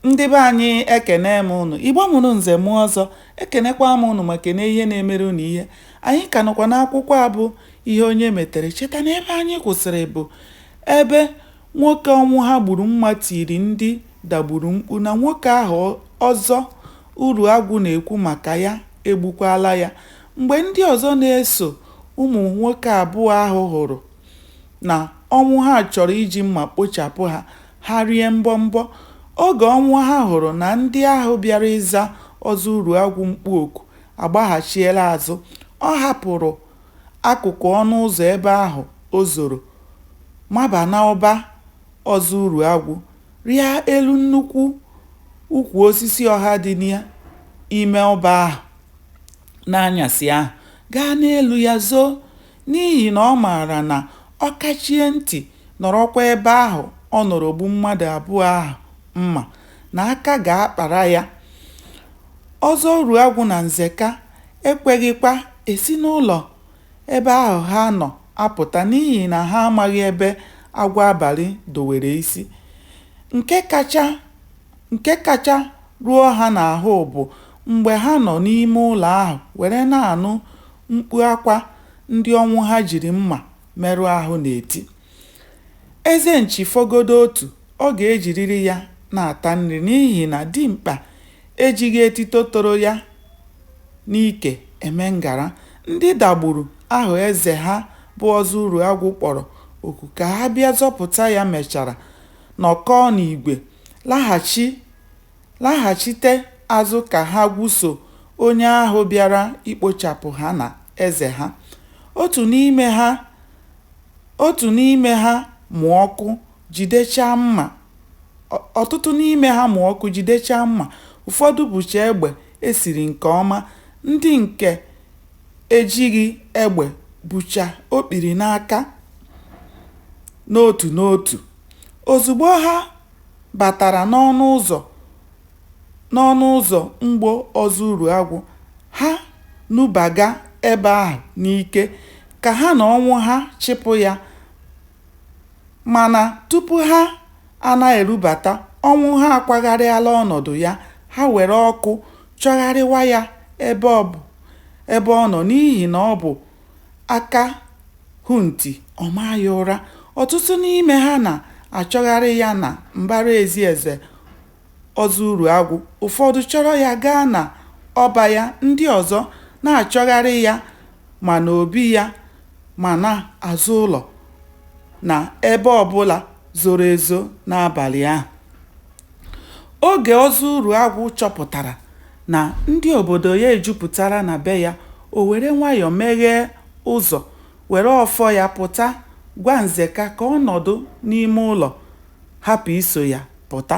ndị be anyị ekene m ụnụ igbo mụrụ nze mụọ ọzọ ekenekwa m ụnụ ma kene ihe na-emere ụnụ ihe anyị ka nọkwa n'akwụkwọ a bụ ihe onye metere cheta na ebe anyị kwụsịrị bụ ebe nwoke ọnwụha gburu mma tiri ndị dagburu mkpu na nwoke ahụ ọzọ uruagwụ na-ekwu maka ya egbukwala ya mgbe ndị ọzọ na-eso ụmụ nwoke abụọ ahụ hụrụ na Ọnwụha chọrọ iji mma kpochapụ ha, ha rie mbọmbọ. Oge Ọnwụha hụrụ na ndị ahụ bịara ịza Ọzọ Uruagwụ mkpu oku agbaghachiela azụ, ọ hapụrụ akụkụ ọnụ ụzọ ebe ahụ o zoro maba n'ọba Ọzọ Uruagwụ, rịa elu nnukwu ukwu osisi ọha dị n'ime ọba ahụ n'anyasị ahụ, gaa n'elu ya zoo. n'ihi na ọ maara na ọ kachie ntị nọrọkwa ebe ahụ ọ nọrọ gbuo mmadụ abụọ ahụ mma, na aka ga-akpara ya. Ọzọ Uruagwụ na Nzeka ekweghịkwa esi n'ụlọ ebe ahụ ha nọ apụta n'ihi na ha amaghị ebe agwọ abalị dowere isi. Nke kacha. Nke kacha ruo ha n'ahụ bụ mgbe ha nọ n'ime ụlọ ahụ were na-anụ mkpu akwa ndị Ọnwụha jiri mma merụ ahụ na-eti. Eze nchi fọgodu otu, ọ ga-ejiriri ya na-ata nri n'ihi na dimkpa ejighị etito toro ya n'ike eme ngara. Ndị Dagburu ahụ eze ha bụ Ọzọ Uruagwụ kpọrọ oku ka ha bịa zọpụta ya mechara nọkọọ n'igwe, laghachi, laghachite azụ ka ha gwuso onye ahụ bịara ikpochapụ ha na eze ha. Otu n'ime ha otu n'ime ha mụ ọkụ jidechaa mma ọtụtụ n'ime ha mụ ọkụ jidechaa mma, ụfọdụ bucha egbe e siri nke ọma, ndị nke ejighị egbe bucha okpiri n'aka. n'otu n'otu. Ozugbo ha batara n'ọnụ ụzọ n'ọnụ ụzọ mgbo Ọzọ Uruagwụ, ha nubaga ebe ahụ n'ike ka ha na Ọnwụha chịpụ ya. Mana tupu ha ana-erubata, Ọnwụha akwagharịala ọnọdụ ya, ha were ọkụ chọgharịwa ya ebe ọ nọ n'ihi na ọ bụ aka hụ nti ọ maa ya ụra. Ọtụtụ n'ime ha na-achọgharị ya na mbara ezi eze Ozuruagwu, ụfọdụ chọrọ ya gaa n'ọba ya, ndị ọzọ na-achọgharị ya ma n'obi ya ma n'azụ ụlọ na ebe ọ bụla zoro ezo n'abalị ahụ. Oge Ozuruagwu chọpụtara Na ndị obodo ya ejupụtara na be ya, o were nwayọ meghee ụzọ, were ọfọ ya pụta gwa Nzeka ka ọ nọdụ n'ime ụlọ hapụ iso ya pụta.